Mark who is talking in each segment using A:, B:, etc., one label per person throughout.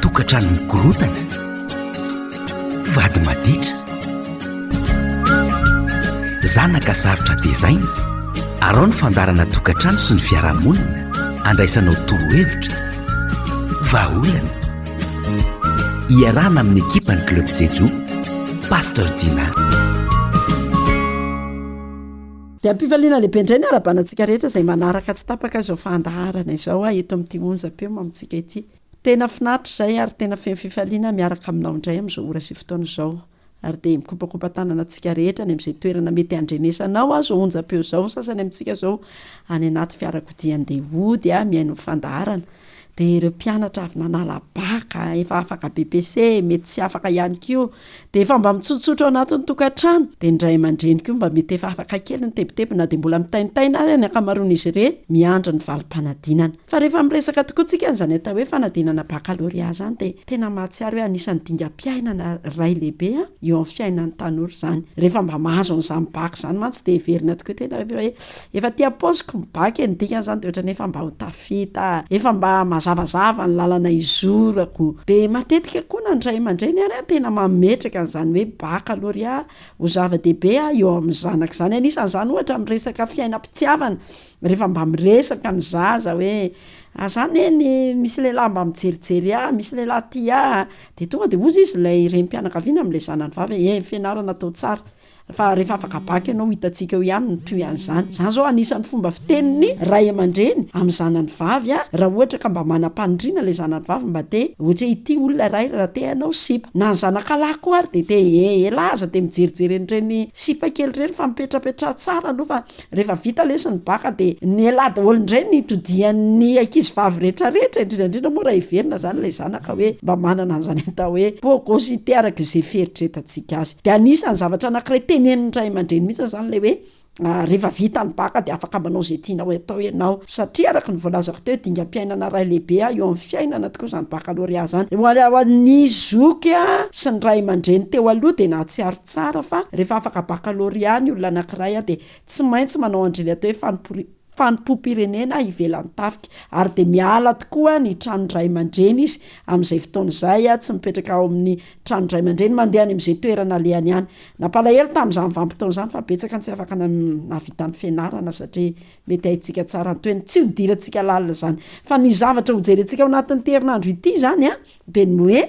A: Tokantrano mikorontana, vady maditra, zanaka sarotra tezaina, arao ny fandaharana tokantrano sy ny fiarahamonina, andraisanao torohevitra, vahaolana. Iarahana amin'ny ekipan'ny Club Jejo, Pasteur Dina.
B: Dia am-pifaliana lehibe indray ny harabana antsika rehetra izay manaraka tsy tapaka izao fandaharana izao eto amin'ity onjam-peo amintsika ity. Tena finaritra izay ary tena feno fifaliana aho miaraka aminao indray amin'izao ora sy fotoana izao. Ary dia mikopakopa tanana antsika rehetra any amin'izay toerana mety handrenesanao ahy izao onjam-peo izao ny sasany amintsika izao any anaty fiarakodia andeha hody mihaino ny fandaharana. dia ireo mpianatra avy nanala baka, efa afaka BPC, mety tsy afaka ihany koa, dia efa mba mitsotsotra ao anatin'ny tokantrano, dia ny ray aman-dreny koa mba mety efa afaka kely ny tebiteby na dia mbola mitaintaina ary ny ankamaroan'izy ireny miandry ny valim-panadinana. Fa rehefa miresaka tokoa tsika an'izany atao hoe fanadinana bakalorea izany dia tena mahatsiaro hoe anisan'ny dingam-piainana iray lehibe eo amin'ny fiainan'ny tanora izany. Rehefa mba mahazo an'izany baka izany mantsy dia heverina tokoa tena hoe efa aty am-paosiko ny baka e, ny dikany izany dia ohatran'ny hoe efa mba ho Vita. Efa mba mazavazava ny lalana hizorako. Dia matetika koa na ny ray aman-dreny ary tena mametraka an'izany hoe bakalorea ho zava-dehibe eo amin'ny zanaka izany. Anisan'izany ohatra amin'ny resaka fiainam-pitiavana, rehefa mba miresaka ny zaza hoe aza neny misy lehilahy mba mijerijery ahy, misy lehilahy tia ahy, dia tonga dia hoy izy ilay renim-pianakaviana amin'ilay zanany vavy hoe eh, fianarana atao tsara. Fa rehefa afaka bac ianao hitantsika eo ihany ny toy an'izany. Izany izao anisan'ny fomba fitenin'ny ray aman-dreny amin'ny zanany vavy a! Raha ohatra ka mba manam-paniriana ilay zanany vavy mba te ohatra hoe ity olona iray raha te hanao sipa. Na ny zanaka lahy koa ary dia te eeh elah aza dia mijerijery an'ireny sipa kely ireny fa mipetrapetraha tsara aloha fa Rehefa vita lesy ny baka dia nialà daholo indray ny todian'ny ankizy vavy rehetra rehetra, indrindra indrindra moa raha heverina izany ilay zanaka hoe mba manana an'izany atao hoe peau cositée araka izay fieritreretantsika azy. Dia anisan'ny zavatra anankiray tenenin'ny ray aman-dreny mihitsy izany ilay hoe rehefa vita ny baka dia afaka manao izay tianao atao ianao, satria araka ny voalazako teo dingam-piainana iray lehibe eo amin'ny fiainana tokoa izany baccalauréat izany. Ho an'ny zoky sy ny ray aman-dreny teo aloha dia nahatsiaro Tsara fa rehefa afaka baccalauréat ny olona anankiray dia tsy maintsy manao andrily atao hoe fanompoam-pirenena ivelan'ny tafika ary dia miala tokoa ny tranon-dray aman-dreny izy amin'izay fotoana izay, tsy mipetraka ao amin'ny tranon-dray aman-dreny, mandeha any amin'izay toerana alehany ihany. Nampalahelo tamin'izany vanim-potoana izany fa betsaka ny tsy afaka nahavita ny fianarana satria mety haintsika tsara ny toeny. Tsy hodirantsika lalina izany fa ny zavatra hojerentsika ao anatin'ity herinandro ity izany an! Dia ny hoe,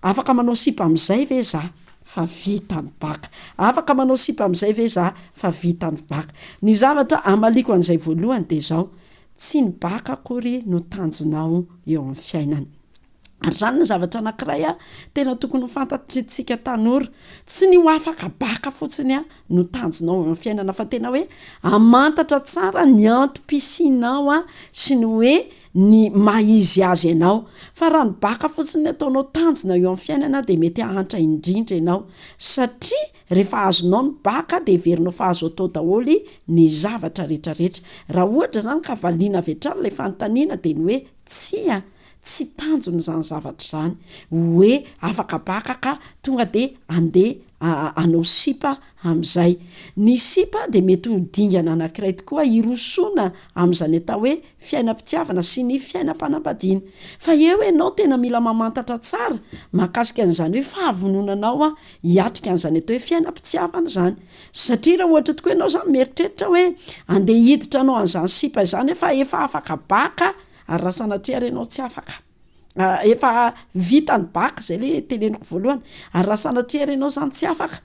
B: afaka manao sipa amin'izay ve izaho? Fa vita ny baka. Afaka manao sipa amin'izay ve izaho? Fa vita ny baka. Ny zavatra amaliako an'izay voalohany dia izao, tsy ny baka akory no tanjonao eo amin'ny fiainana. Ary izany no zavatra anankiray tena tokony ho fantatritsika tanora. Tsy ny ho afaka baka fotsiny no tanjonao eo amin'ny fiainana, fa tena hoe hamantatra tsara ny antom-pisianao sy ny hoe, ny maha izy azy anao, fa raha ny baka fotsiny ny ataonao tanjona eo amin'ny fiainana dia mety hahantra indrindra ianao, satria rehefa azonao ny baka dia heverinao fa azo atao daholo ny zavatra retraretra, raha ohatra izany ka valiana avy hatrany ilay fanontaniana dia ny hoe tsia, tsy tanjona izany zavatra izany, hoe afaka baka ka tonga dia andeha hanao sipa amin'izay. Ny sipa dia mety ho dingana anankiray tokoa hirosoana amin'izany atao hoe fiainam-pitiavana sy ny fiainam-panambadiana. Fa eo ianao tena mila mamantatra tsara mahakasika an'izany hoe fahavononanao hiatrika an'izany atao hoe fiainam-pitiavana izany. Satria raha ohatra tokoa ianao izany mieritreritra hoe andeha hiditra hanao an'izany sipa izany fa efa afaka baka ary raha sanatria ary ianao tsy afaka. efa vita ny bac zay le teneniko voalohany, ary raha sanatria ary ianao zany tsy afaka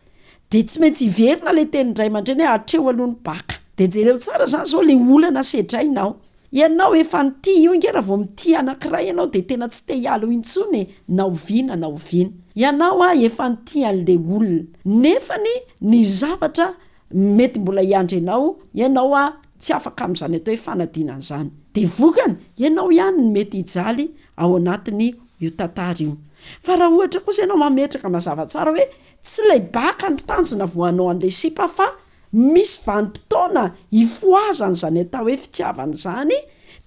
B: de tsy maintsy hiverina le tenin-dray aman-dreny hoe hatreo aloha ny bac, de jereo tsara zany zao le olana sedrainao, ianao efa nitia io nge raha vao mitia anankiray ianao de tena tsy te hiala eo intsony e, na oviana na oviana, ianao efa nitia an'le olona nefany ny zavatra Mety mbola hiandry anao ianao a, tsy afaka amin'izany atao hoe fanadinana izany. Dia vokany, ianao ihany no mety hijaly ao anatin'io tantara io. Fa raha ohatra kosa ianao mametraka mazava tsara hoe tsy ilay baka no tanjona voanao an'ilay sipa fa misy vanim-potoana ifohazan'izany atao hoe fitiavana izany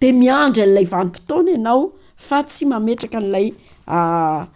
B: dia miandry an'ilay vanim-potoana ianao fa tsy mametraka an'ilay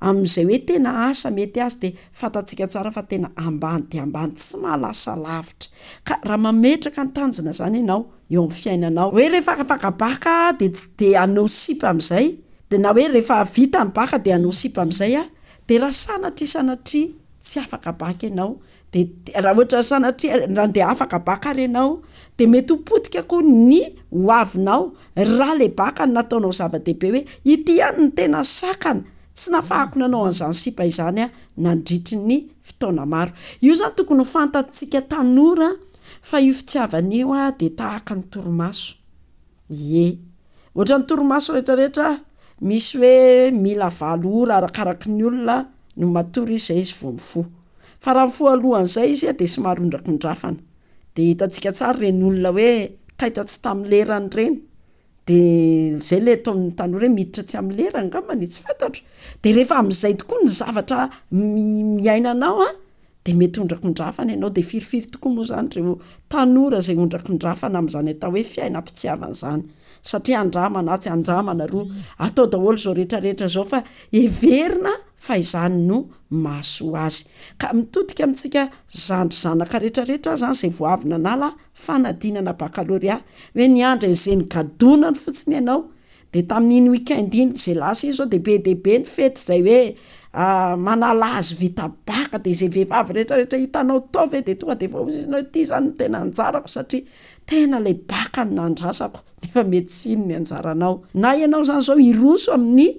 B: Amin'izay hoe tena asa mety azy dia fantatsika tsara fa tena ambany dia ambany, tsy mahalasa lavitra. Ka raha mametraka ny tanjona izany ianao eo amin'ny fiainanao, hoe rehefa afaka baka aho dia tsy dia hanao sipa amin'izay, dia na hoe rehefa vita ny baka dia hanao sipa amin'izay aho, dia raha sanatria sanatria tsy afaka baka ianao de raha ohatra sanatria raha ndeha afaka baka ary ianao de mety ho potika koa ny ho avinao raha le baka no nataonao zava-dehibe hoe ity ihany no tena sakana tsy nafahako nanao an'izany sipa izany aho nandritry ny fotoana maro, io zany tokony ho fantatsika tanora fa io fitiavana io dia tahaka ny torimaso. Ie. Ohatran'ny torimaso rehetrarehetra misy hoe mila valo ora arakaraky ny olona no matory izy zay izy vao mifoha. Fa raha mifoha alohan'izay izy dia somary ondrakondrafana. Dia hitantsika tsara ireny olona hoe taitra tsy tamin'ny lerany ireny. Dia zay ilay ataon'ny tanora hoe miditra tsy amin'ny lerany angambany e, tsy fantatro. Dia rehefa amin'izay tokoa ny zavatra iainanao a. dia mety hondrakondrafana ianao, dia firifiry tokoa moa izany ireo tanora izay hondrakondrafana amin'izany atao hoe fiainam-pitiavana izany, satria andramana atsy andramana aroa, atao daholo izao rehetra rehetra izao fa heverina fa izany no mahasoa azy, ka mitodika amintsika zandry zanaka rehetra rehetra aza izay vao avy nanala fanadinana bakalorea, hoe niandry an'izeny gadonany fotsiny ianao Dia tamin'iny week-end iny izay lasa iny zao dia be dia be ny fety izay hoe manala hazo vita baka, dia izay vehivavy rehetra rehetra hitanao tao ve dia tonga dia efa hozy izy hoe ity izany no tena anjarako satria tena ilay baka no nandrasako, nefa mety tsy iny ny anjaranao, na ianao izany izao hiroso amin'ny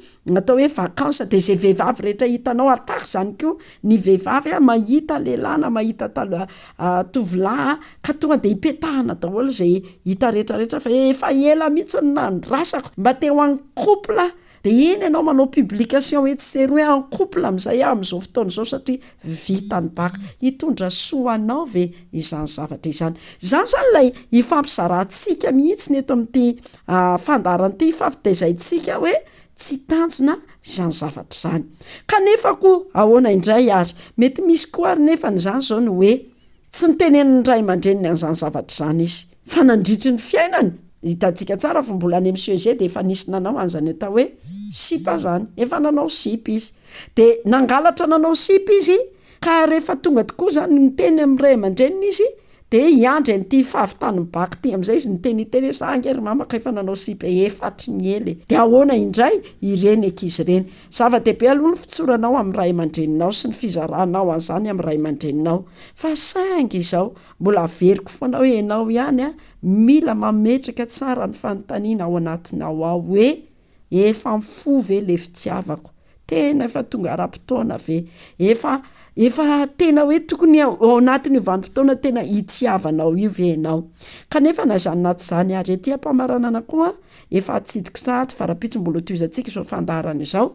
B: atao hoe vacances dia izay vehivavy rehetra hitanao, ary tahaka izany koa. Ny vehivavy a mahita lehilahy na mahita tala a tovolahy a ka tonga de ipetahana daholo zay hita rehetra rehetra fa efa ela mihitsy no nandrasako mba te ho en couple de iny ianao manao publication etsy sy eroa hoe en couple amizay aho amizao fotoana izao satria vita ny bac, hitondra soa ho anao ve izany zavatra izany? Zany zany ilay ifampizarantsika mihitsy eto amin'ity fandaharan'ity ifampitaizaintsika hoe Tsy tanjona izany zavatra izany. Kanefa koa ahoana indray ary? Mety misy koa ary nefa an'izany izao ny hoe, tsy nitenenin'ny ray aman-dreniny an'izany zavatra izany izy. Fa nandritry ny fiainany, hitantsika tsara fa mbola any amin'ny CEG dia efa nisy nanao an'izany atao hoe sipa izany. Efa nanao sipa izy. Dia nangalatra nanao sipa izy, ka rehefa tonga tokoa izany miteny amin'ny ray aman-dreniny izy, De hiandry an'ity fahavitan'ny bac ty am'zay izy niteny hiteny hoe za nge ry mamako efa nanao sipa efatry ny ela e! de ahoana indray ireny ankizy ireny? zava-dehibe aloha ny fitsoranao amin'ny ray aman-dreninao sy ny fizaranao an'zany amin'ny ray aman-dreninao fa saingy izao mbola averiko foana hoe ianao ihany an mila mametraka tsara ny fanontaniana ao anatinao ao hoe Efa mifoha ve le fitiavako? Tena efa tonga ara-potoana ve? Efa efa tena hoe tokony ao anatin'io vanim-potoana tena hitiavanao io ve ianao? Kanefa na izany na tsy izany ary ety am-pamaranana koa efa atsidiko sahady fa rahampitso mbola ho tohizantsika izao fandaharana izao.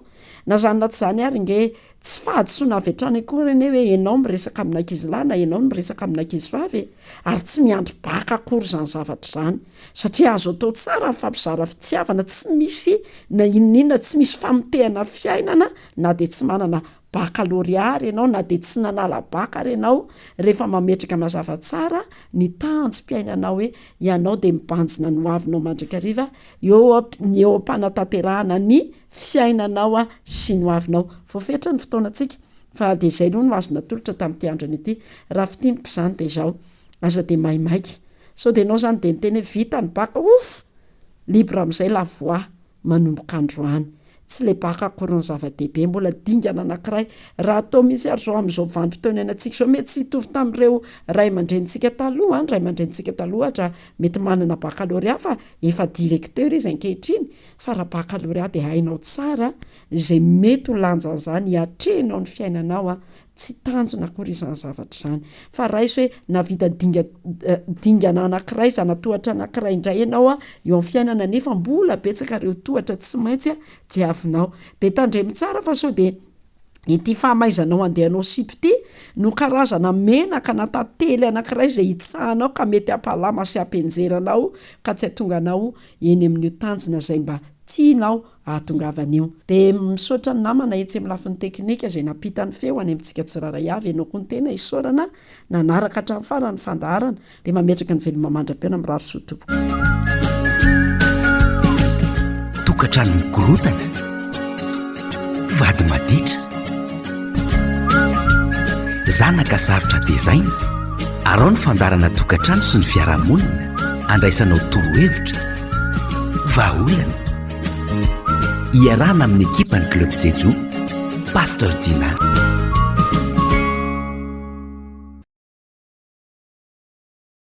B: Na izany na tsy izany ary nge tsy fahadisoana avy hatrany akory anie hoe ianao miresaka amin'ankizilahy na ianao no miresaka amin'ankizivavy e! Ary tsy miandry baka akory izany zavatra izany. satria azo atao tsara ny fampizara fitiavana tsy misy na inon'inona, tsy misy famotehana fiainana na dia tsy manana bakalorea ary ianao na dia tsy nanala baka ary ianao rehefa mametraka mazava tsara ny tahanjom-piainanao hoe ianao dia mibanjina ny hoavinao mandrakariva eo ny eo am-panatanterahana ny fiainanao sy ny hoavinao. Voafetra ny fotoanantsika fa dia izay aloha no azo natolotra tamin'ity androny ity, raha fintiniko izany dia izao. Aza dia maimaika. Sao dia enao zany dia niteny hoe vita ny bac ouff! Libre amizay la voix manomboka androany. Tsy le bac akory no zava-dehibe, mbola dingana anakiray. Raha atao mihintsy ary zao amizao vanim-potoana iainantsika izao mety tsy hitovy tamin'ireo ray aman-drenintsika taloha an, ny ray aman-drenintsika taloha ohatra mety manana baccalauréat fa efa directeur izy ankehitriny fa raha baccalauréat dia hainao tsara izay mety ho lanjan'izany hiatrehinao ny fiainanao an, Tsy tanjona akory izany zavatra izany, fa raiso hoe nahavita dinga dingana anankiray, zana-tohatra anankiray indray ianao eo amin'ny fiainana, nefa mbola betsaka ireo tohatra tsy maintsy diavinao. Dia tandremo tsara fa sao dia ity fahamaizanao andehanao sipa ity no karazana menaka na tantely anankiray izay hitsahanao ka mety hampalama sy hampianjera anao ka tsy hahatonga anao eny amin'io tanjona izay mba tianao ahatongavany io. Dia misaotra ny namana etsy amin'ny lafiny teknika izay nampita ny feo any amintsika tsirairay avy, ianao koa ny tena isaorana nanaraka hatramin'ny farany ny fandaharana, dia mametraka ny veloma mandra-pihaona mirary soa tompoko.
A: Tokantrano mikorontana, mpivady maditra, zanaka sarotra tezaina, arao ny fandaharana tokantrano sy ny fiarahamonina andraisanao torohevitra, vahaolana, Iarahana amin'ny ekipan'ny Club Jejo, Pasteur Dina.